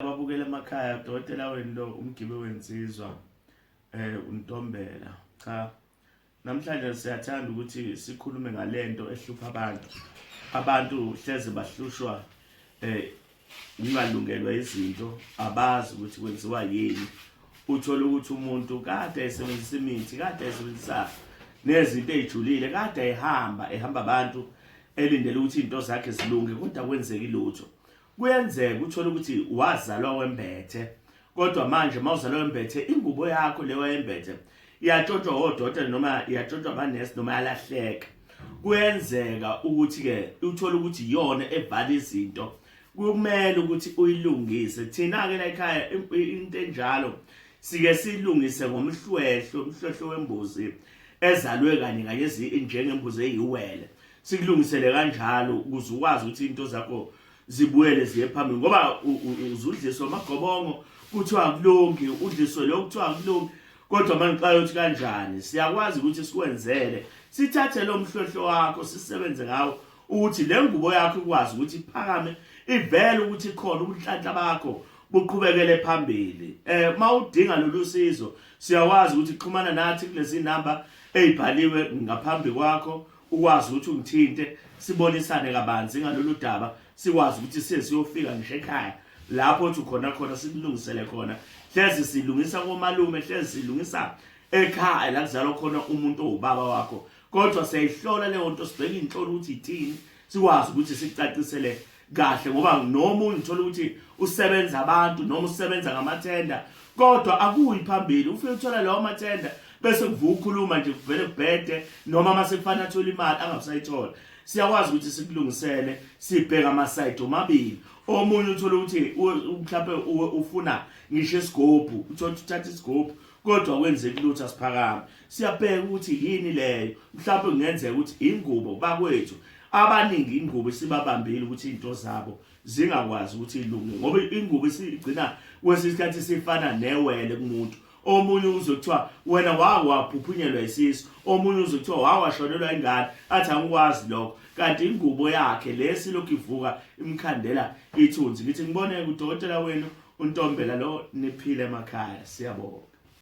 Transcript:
ababukela emakhaya udokotela wenu lo umgibe wensizwa eh untombela cha namhlanje siyathanda ukuthi sikhulume ngalento ehlupha abantu abantu hleze bahlushwa eh ngingalungelwa izinto abazi ukuthi kwenziwa yini uthola ukuthi umuntu kade esebenzisa imithi kade esebenzisa nezinto ezijulile kade ehamba ehamba abantu elindele ukuthi into zakhe zilunge kodwa kwenzeki lutho Kuyenzeka uthole ukuthi wazalwa wembethe kodwa manje mawuzalwa wembethe ingubo yakho le wayembethe iyatshontshwa odokotela noma iyatshontshwa amanesi noma yalahleka. Kuyenzeka ukuthi-ke uthole ukuthi iyona evala izinto kumele ukuthi uyilungise. Thina-ke la ekhaya into enjalo sike silungise ngomhlwehlo, umhlwehlo wembuzi ezalwe kanye kanye njengembuzi eyiwele. sikulungisele kanjalo ukuze ukwazi ukuthi into zakho zibuyele ziye phambili ngoba uzudliswa amagobongo kuthiwa kulungi udliswe lokho kuthiwa kulungi kodwa manje xa yothi kanjani siyakwazi ukuthi sikwenzele sithathe lo mhlohlo wakho sisebenze ngawo ukuthi le ngubo yakho ikwazi ukuthi iphakame ivele ukuthi khona ubunhlanhla bakho buqhubekele phambili eh mawudinga lolu sizo siyawazi ukuthi xhumana nathi kulezi number ezibhaliwe ngaphambi kwakho ukwazi ukuthi ungithinte sibonisane kabanzi ngalolu daba sikwazi ukuthi sesiyofika ngisho ekhaya lapho othi khona khona sikulungisele khona hlezi silungisa komalume hlezi silungisa ekhaya la kuzalwa khona umuntu owubaba wakho kodwa siyayihlola leyo nto sibheke inhlolo ukuthi ithini sikwazi ukuthi sicacisele kahle ngoba noma ungithola ukuthi usebenza abantu noma usebenza ngamathenda kodwa akuyi phambili ufike uthola lawo mathenda bese kuvuka ukhuluma nje kuvele kubhede noma uma sekufanele athole imali angabusayithola siyakwazi ukuthi sikulungisele sibheke amasayidi omabili omunye uthole ukuthi mhlawumbe ufuna ngisho isigobhu uthole uthatha isigobhu kodwa kwenzeki lutho asiphakame siyabheka ukuthi yini leyo mhlawumbe kungenzeka ukuthi ingubo bakwethu abaningi ingubo isibabambile ukuthi into zabo zingakwazi ukuthi ilunge ngoba ingubo isigcina kwesinye isikhathi sifana newele kumuntu omunye uzokuthiwa wena wawaphuphunyelwa isisu omunye uzokuthiwa wawashonelwa ingane athi angikwazi lokho kanti ingubo yakhe lesi lokhu ivuka imkhandela ithunzi ngithi ngiboneke udokotela wenu untombela lo niphile emakhaya siyabonga